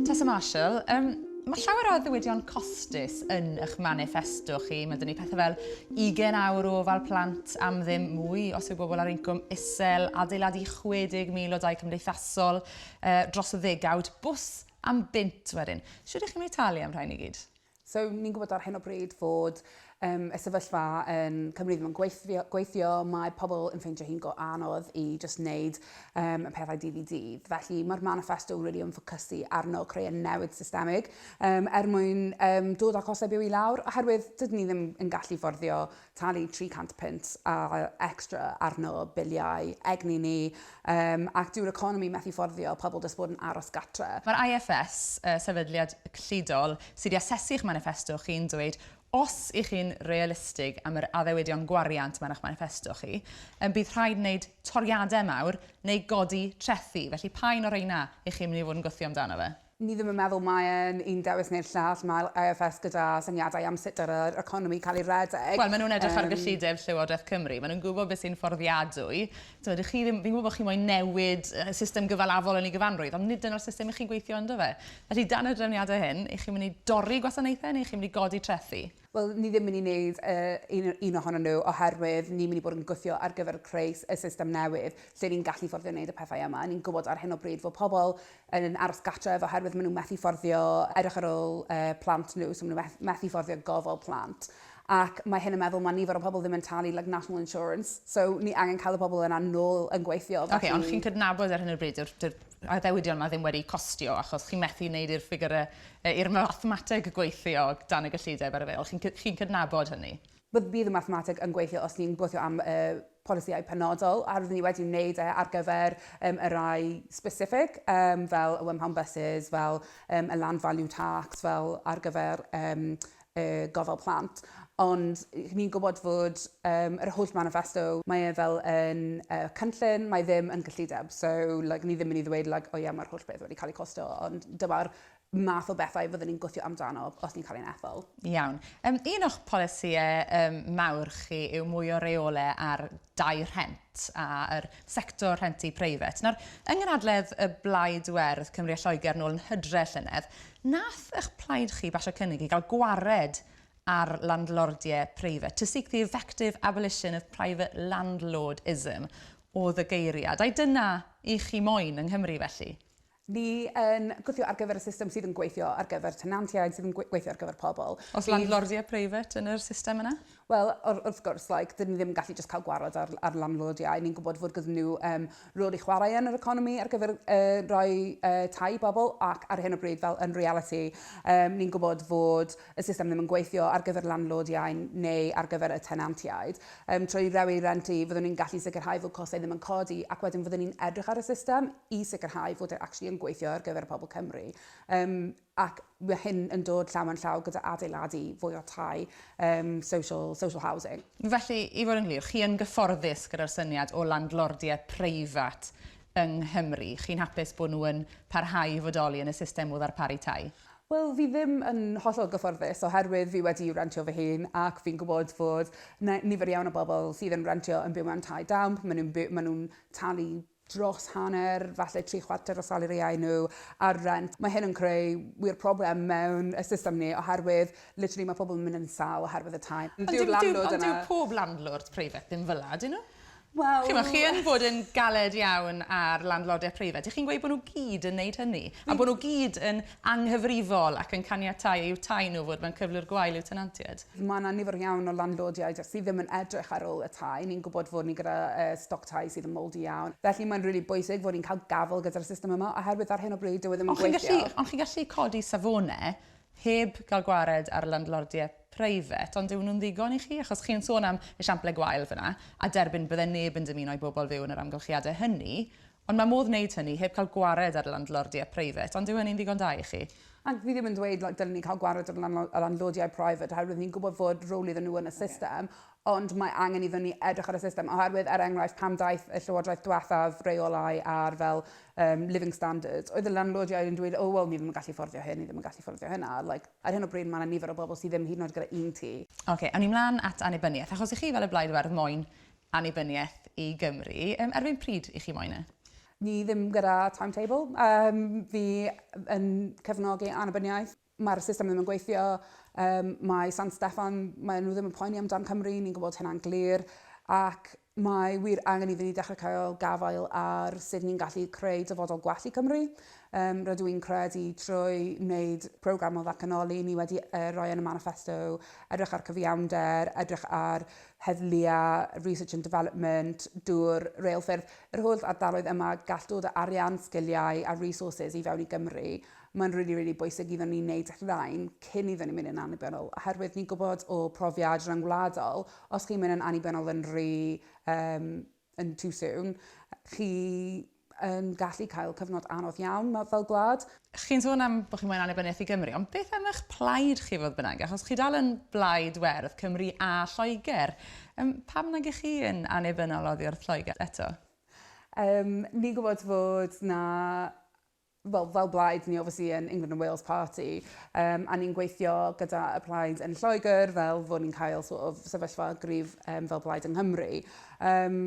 Tessa Marshall, um, Mae llawer o ddiwydion costus yn eich manifesto chi. Mae dyn ni pethau fel 20 awr o ofal plant am ddim mwy os yw bobl ar incwm isel, adeiladu 60,000 o dau cymdeithasol uh, dros y ddegawd, bws am bynt wedyn. Siwr ydych chi'n mynd i talu am rhain i gyd? So, ni'n gwybod ar hyn o bryd fod um, y sefyllfa yn Cymru ddim yn gweithio, gweithio, mae pobl yn ffeindio hi'n go anodd i just wneud um, y pethau dydd i dydd. Felly mae'r manifesto really yn ffocysu arno creu y newid systemig um, er mwyn um, dod â costau byw i lawr, oherwydd dydyn ni ddim yn gallu fforddio talu 300 punt a extra arno biliau egni ni, yym, ac dyw'r economi methu fforddio pobl jyst bod yn aros gartre. Mae'r IFS, y sefydliad cyllidol sydd i asesu eich maniffesto chi, yn dweud os y'ch chi'n realistig am yr addewidion gwariant mae'r eich maniffesto chi, yym, bydd rhaid wneud toriadau mawr neu godi trethi, felly pa un o rheina y'ch chi'n mynd i fod yn gwthio amdano fe? Ni ddim yn meddwl mae e'n un dewis neu'r llall, mae'r IFS gyda syniadau am sut yr yr economi cael ei redeg. Wel, maen nhw'n edrych ar gyllideb Llywodraeth Cymru, maen nhw'n gwybod beth sy'n fforddiadwy. Timod, dych chi ddim, fi'n gwybod bod chi moyn newid y system gyfalafol yn ei gyfanrwydd, ond nid dyna'r system i chi'n gweithio ynddo fe. Felly, dan y drefniadau hyn, y'ch chi'n mynd i dorri gwasanaethau neu y'ch chi'n mynd i godi trethi? Wel, ni ddim yn mynd i wneud un o un ohonyn nhw oherwydd ni'n mynd i bod yn gweithio ar gyfer creu y system newydd lle ni'n gallu fforddio wneud y pethau yma. Ni'n gwybod ar hyn o bryd fod pobl yn aros gartref oherwydd maen nhw methu fforddio edrych ar ôl plant nhw, so maen nhw methu fforddio gofal plant ac mae hyn yn meddwl mae nifer o pobl ddim yn talu like national insurance, so ni angen cael y pobl yna nôl yn gweithio. Felly... Ok, ond chi'n cydnabod ar hyn o bryd dyw'r addewidion yma ddim wedi costio achos chi'n methu wneud i'r ffigurau I'r mathemateg gweithio dan y gyllideb ar y fel, chi'n chi'n cydnabod hynny? Bydd bydd y mathemateg yn gweithio os ni'n gweithio am y polisïau penodol a rydyn ni wedi wneud e ar gyfer um, y rai specific, um, fel y one pound buses, fel um, y land value tax, fel ar gyfer um, y gofal plant, ond ni'n gwybod fod yym yr holl maniffesto, mae e fel yn yy cynllun, mae ddim yn gyllideb, so like ni ddim yn i ddweud like o ie mae'r holl beth wedi cael ei costo, ond dyma'r math o bethau fyddwn ni'n gwthio amdano os ni'n cael ein ethol. Iawn. Yym un o'ch polisïau yym mawr chi yw mwy o reole ar dai rhent a yr sector rhentu preifat. Nawr, yng nghynhadledd y Blaid Werdd Cymru a Lloegr nôl yn Hydre llynedd, Nath ych plaid chi basio cynnig i gael gwared ar landlordie preifat, to seek the effective abolition of private landlordism oedd y geiriad, ai dyna i chi moyn yng Nghymru felly? Ni yn gwthio ar gyfer y system sydd yn gweithio ar gyfer tenantiaid, sydd yn gweithio ar gyfer pobl. Oes landlordie preifat yn yr system yna? Wel, wr- wrth gwrs, like, dyn ni ddim yn gallu jyst cael gwared ar, ar landlordiau. Ni'n gwybod fod gyda nhw um, rôl i chwarae yn yr economi ar gyfer uh, rhoi uh, tai i bobl ac ar hyn o bryd fel yn reality um, ni'n gwybod fod y system ddim yn gweithio ar gyfer landlordiau neu ar gyfer y tenantiaid. Um, trwy rewi rentu, fyddwn ni'n gallu sicrhau fod costau ddim yn codi ac wedyn fyddwn ni'n edrych ar y system i sicrhau fod e actually yn gweithio ar gyfer y pobl Cymru. Um, ac mae hyn yn dod llaw yn llaw gyda adeiladu fwy o tai yym social, social housing. Felly, i fod yn glir, chi yn gyfforddus gyda'r syniad o landlordiaeth preifat yng Nghymru? Chi'n hapus bod nhw yn parhau i fodoli yn y system o ddarparu tai? Wel, fi ddim yn hollol gyfforddus oherwydd fi wedi rentio fy hun ac fi'n gwybod fod 'na nifer iawn o bobl sydd yn rentio yn byw mewn tai damp, maen nhw'n by- maen nhw'n talu dros hanner, falle tri chwarter o salariau nhw ar rent. Mae hyn yn creu wir problem mewn y system ni oherwydd literally mae pobl yn mynd yn sâl oherwydd y tai. Ond dyw'r landlord yna... Ond dyw pob landlord preifat ddim fel 'na, ydyn nhw? Wel... Chimod, chi yn bod yn galed iawn ar landlordiau preifat. Dych chi'n gweud bod nhw gyd yn wneud hynny? A bod nhw gyd yn anghyfrifol ac yn caniatáu i'w tai nhw fod mewn cyflwr gwael i'w tenantiaid? Mae 'na nifer iawn o landlordiaid jyst sydd ddim yn edrych ar ôl y tai. Ni'n gwybod fod ni gyda yy stoc tai sydd yn mouldy iawn. Felly mae'n rili bwysig fod ni'n cael gafael gyda'r system yma oherwydd ar hyn o bryd dyw e ddim yn Ond chi'n gweithio. gallu, ond chi'n gallu codi safone heb gael gwared ar landlordie preifat, ond yw nhw'n ddigon i chi? Achos chi'n sôn am esiample gwael fan'na, a derbyn bydde neb yn dymuno i bobl fyw yn yr amgylchiade hynny, Ond mae modd wneud hynny heb cael gwared ar landlordiau preifat, ond yw hynny'n ddigon da i chi? Ac fi ddim yn dweud like dylen ni cael gwared ar y landlordiau preifat oherwydd ni'n gwybod fod rôl iddyn nhw yn y system, ond mae angen iddyn ni edrych ar y system oherwydd, er enghraifft, pan ddaeth y Llywodraeth diwethaf reolau ar fel yym living standards, oedd y landlordiau yn dweud, oh wel ni ddim yn gallu fforddio hyn, ni ddim yn gallu fforddio hynna, like ar hyn o bryd mae 'na nifer o bobl sydd ddim hyd yn oed gyda un tŷ. Ocê, awn ni mlaen at annibyniaeth, achos i chi fel y Blaid Werdd moyn annibyniaeth i Gymru. Yym, erbyn pryd i chi moyn e? Ni ddim gyda timetable. Yym, fi yn cefnogi annibyniaeth. Mae'r system ddim yn gweithio. Yym, mae San Steffan, mae nhw ddim yn poeni amdan Cymru, ni'n gwybod hynna'n glir. Ac mae wir angen iddyn ni dechrau cael gafael ar sut ni'n gallu creu dyfodol gwell i Cymru. Yym, rydw i'n credu trwy wneud programme o ddatganoli, ni wedi uh, roi yn y manifesto, edrych ar cyfiawnder, edrych ar heddlu a research and development, dŵr, reilffyrdd, yr holl ardaloedd yma, gall dod o arian, sgiliau a resources i fewn i Gymru. Mae'n rili, rili bwysig iddon ni wneud rhain cyn iddon ni mynd yn annibynnol, oherwydd ni'n gwybod o profiad rhyngwladol, os chi'n mynd yn annibynnol yn rhy um, yn too soon. Chi yn gallu cael cyfnod anodd iawn fel gwlad. Chi'n sôn am bod chi'n moyn annibyniaeth i Gymru, ond beth am eich plaid chi fodd bynnag? Achos chi dal yn blaid werdd Cymru a Lloegr. Yym, pam nag ych chi yn annibynnol oddi wrth Lloegr eto? Yym, ni'n gwybod fod 'na wel fel blaid ni obviously yn England and Wales Party yym a ni'n gweithio gyda y plaid yn Lloegr fel fod ni'n cael sort of sefyllfa gryf yym fel blaid yng Nghymru. Yym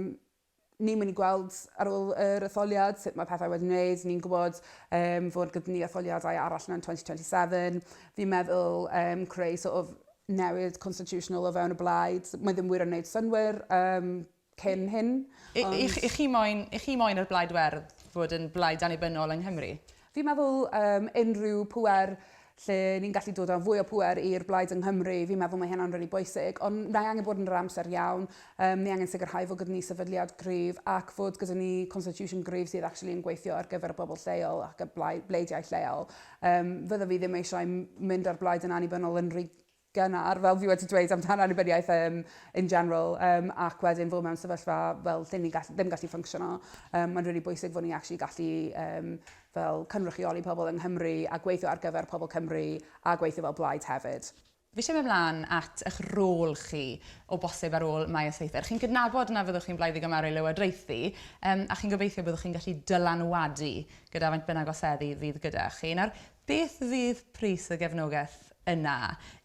ni'n mynd i gweld ar ôl yr etholiad sut mae pethau wedi wneud, ni'n gwybod yym fod gyda ni etholiadau arall mewn 2027. Fi'n meddwl yym creu sort of newid constitutional o fewn y blaid, mae ddim wir yn wneud synnwyr yym cyn hyn, ond... I, i, i chi moyn, i chi moyn yr Blaid Werdd fod yn blaid annibynnol yng Nghymru? Fi'n meddwl um, unrhyw pwer lle ni'n gallu dod â fwy o pwer i'r blaid yng Nghymru, fi'n meddwl mae hynna'n rili really bwysig, ond mae angen bod yn yr amser iawn, um, ni angen sicrhau fod gyda ni sefydliad gryf ac fod gyda ni constitution gryf sydd actually yn gweithio ar gyfer y bobl lleol ac y bleidiau lleol. Um, fydda fi ddim eisiau mynd ar blaid yn annibynnol yn rhy gynnar, fel fi wedi dweud amdan annibyniaeth um, in general, um, ac wedyn fod mewn sefyllfa fel lle ni gall, ddim gallu ffyncsiono. Um, Mae'n rili really bwysig fod ni actually gallu um, fel cynrychioli pobl yng Nghymru a gweithio ar gyfer pobl Cymru a gweithio fel blaid hefyd. Fi eisiau mynd mlaen at eich rôl chi o bosib ar ôl Maes Eithr. Chi'n gydnabod na fyddwch chi'n blaid i gymharu lywodraethu um, a chi'n gobeithio byddwch chi'n gallu dylanwadu gyda faint bynnag oseddi fydd gyda chi. Nawr, Beth fydd pris y gefnogaeth yna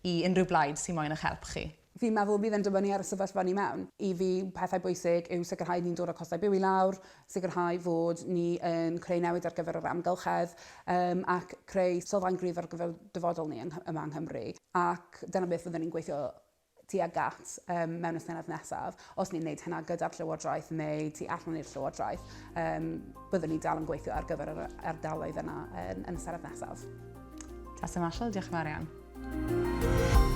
i unrhyw blaid sy'n moyn eich help chi? Fi'n meddwl bydd e'n dibynnu ar y sefyllfa ni mewn. I fi, pethau bwysig yw sicrhau ni'n dod â costau byw i lawr, sicrhau fod ni yn creu newid ar gyfer yr amgylchedd, yym ac creu sylfaen gryf ar gyfer dyfodol ni yng Nghy- yma yng Nghymru. Ac dyna beth fydden ni'n gweithio tuag at um, mewn y Senedd nesaf. Os ni'n gwneud hynna gyda'r Llywodraeth neu tu allan i'r Llywodraeth, um, byddwn ni dal yn gweithio ar gyfer yr ardaloedd yna yn, yn y Senedd nesaf. Tasa Marshall, diolch yn fawr iawn.